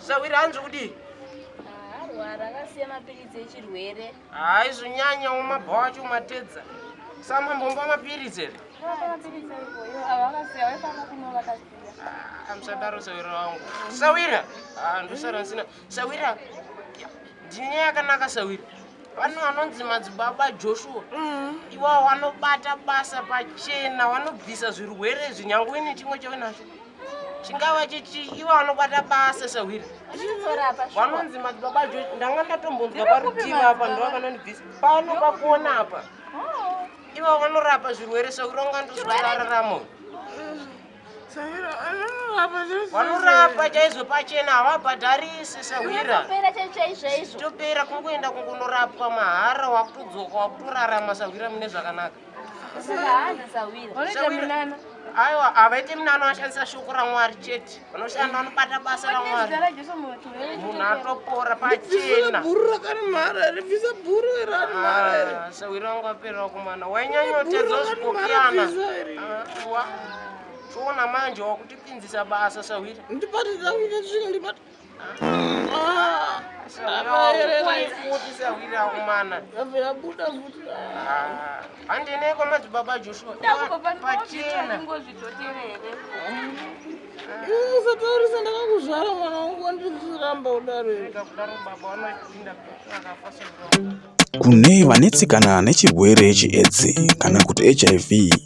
Sahwira hanzi kudii? Arwara akasiya mapiritsi echirwere. Hayi zvinyanya umabhawa wacho umatedza. Sama mbomba mapiritsi ere? Amsadaro sawira wangu. Sawira. Ah ndosara nsina. Sawira. Ndine yakanaka sawira. Vano vanonzi madzibaba Joshua. Mm. Iwa wanobata basa pachena, wanobvisa zvirwere zvinyangwe nechimwe chawe nacho. chingava chichi ivo vanobata basa sahwiri vanonzi madzibaba jo ndanga ndatombonzwa parutivi apa ndovakanondibvisa pano pakuona apa oh. ivo vanorapa zvirwere sahwiri vanga ndozvarararamo vanorapa chaizvo pachena havabhadharise sahwira topera kungoenda kungonorapwa mahara wakutodzoka wakutorarama sahwira mune zvakanaka aiwa havaite minano ashandisa shoko ramwari chete vanoshanda vanobata basa ramwari munhu atopora pachena ah, sawiri wangu aperera kumana wainyanyotedza zvikokiana ah, toona manje wakutipinzisa basa sawiri ndibatidza kuita zvinhu ndibata handineiko madzibaba joshua pachena usataurisa ndakakuzvara mwana wangu wandiziramba kudaro kune vanetsikana nechirwere cheedzi kana kuti hiv